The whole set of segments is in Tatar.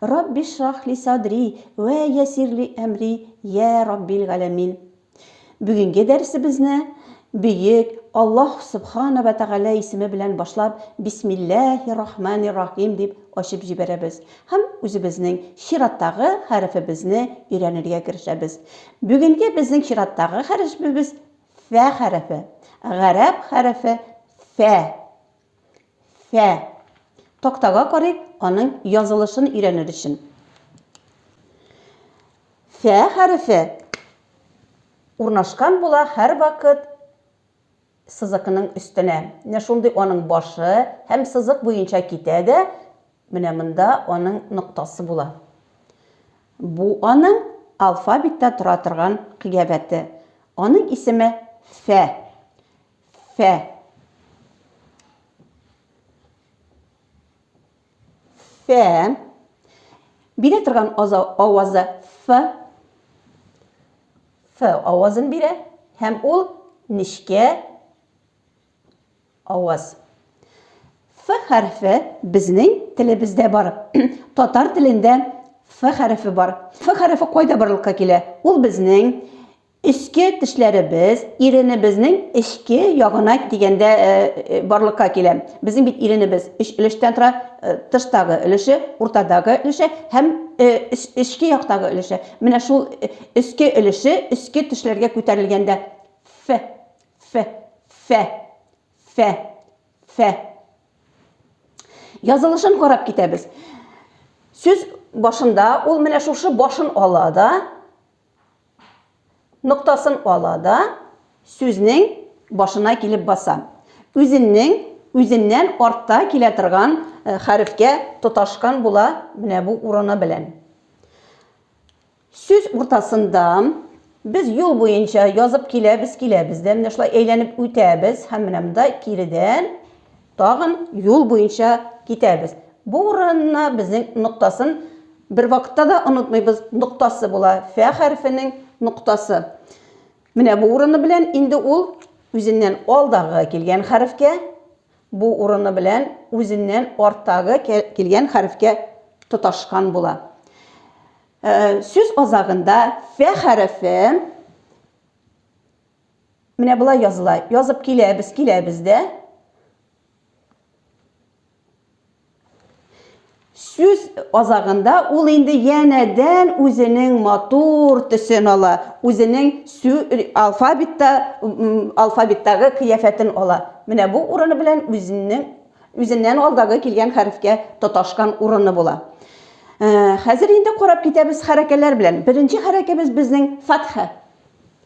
Рабби шрах ли садри вә ясир ли әмри, йә Раббил галәмин. Бүгенге дәресебезне Бөек Аллаһ Сөбхана вә Тәгалә исеме белән башлап, Бисмилләһи рахмани рахим дип ачып җибәрәбез һәм үзебезнең чираттагы хәрефебезне өйрәнергә керешәбез. Бүгенге безнең чираттагы хәрешбебез Фә хәрефе. Гарәп хәрефе Фә. Фә. Тактага карыйк, аның язылышын өйрәнер өчен. Фә хәрефе урнашкан була һәрвакыт сызыкның өстенә. Менә шундый аның башы һәм сызык буенча китә дә, менә монда аның ноктасы була. Бу аның алфавитта тора торган кыябәте. Аның исеме Фә. Фә. Фә. Бирә торган авазы ф. Ф авазын бирә һәм ул нечкә аваз. Ф хәрфе безнең телебездә бар. Татар телендә ф хәрфе бар. Ф хәрфе кайда барлыкка килә? Ул безнең Эчке тешләребез иренебезнең эчке ягына дигәндә барлыкка килә. Безнең бит иренебез өч өлештән тора, тыштагы өлеше, уртадагы өлеше һәм эчке яктагы өлеше. Менә шул өске өлеше өске тешләргә күтәрелгәндә ф, ф, ф, ф, ф. Язылышын карап китәбез. Сүз башында ул менә шушы башын ала да, Ноктасын ала да, сүзнең башына килеп баса. Үзеннең үзеннән артта килә торган хәрефкә тоташкан була менә бу урыны белән. Сүз уртасында без юл буенча язып киләбез, киләбез дә, менә шулай әйләнеп үтәбез һәм менә монда киредән Тагын юл буенча китәбез. Бу урынны безнең ноктасын бервакытта да онытмыйбыз, ноктасы була, фә хәрефенең ноктасы. Менә бу урыны белән инде ул үзеннән алдагы килгән хәрефкә, бу урыны белән үзеннән арттагы килгән хәрефкә тоташкан була. Сүз азагында фә хәрефе Менә болай языла. Язып киләбез, киләбез дә. Сүз азагында ул инде янәдән үзенең матур төсен ала, үзенең алфавитта алфавиттагы кыяфәтен ала. Менә бу урыны белән үзенең үзеннән алдагы килгән хәрефкә тоташкан урыны була. Хәзер инде карап китәбез хәрәкәләр белән. Беренче хәрәкәбез безнең фатха.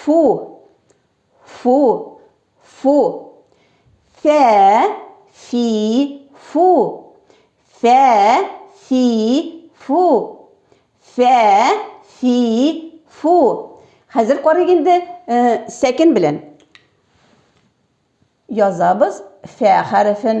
Фу, фу, фу. Фә, фи, фу. Фә, фи, фу. Фә, фи, фу. Хәзер карыйк инде э, сәкен белән. Язабыз фә хәрефен.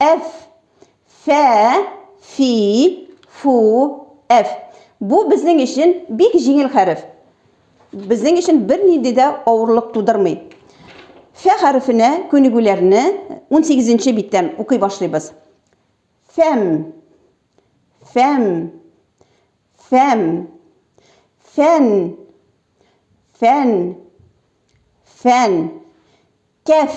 F. Фә, фи, фу, F. Бу безнең өчен бик җиңел хәреф. Безнең өчен бернинди дә авырлык тудырмый. Фә хәрефенә күнегүләрне 18 нче биттән укый башлыйбыз. Фәм, фәм, фәм, фән, фән, фән, кәф,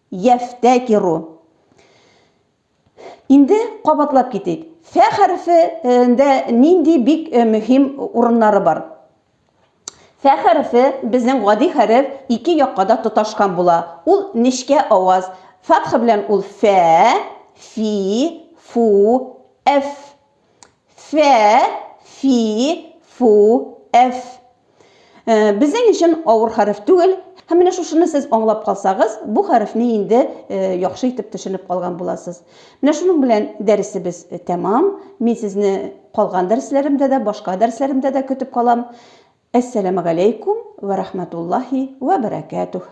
Йәфтәкиру. Инде кабатлап китик. Фә хәрефендә нинди бик мөһим урыннары бар? Фә хәрефе безнең гади хәреф ике якка да тоташкан була. Ул нечкә аваз. Фатха белән ул фә, фи, фу, әф Фә, фи, фу, әф. Э, Безнең өчен авыр хәреф түгел. Һәм менә шушыны сез аңлап калсагыз, бу хәрефне инде э, яхшы итеп төшенеп калган буласыз. Менә шуның белән дәресебез э, тәмам. Мин сезне калган дәресләремдә дә, башка дәресләремдә дә көтеп калам. Әссәламәгаләйкүм вә рахматуллаһи вә бәрәкәтүһ.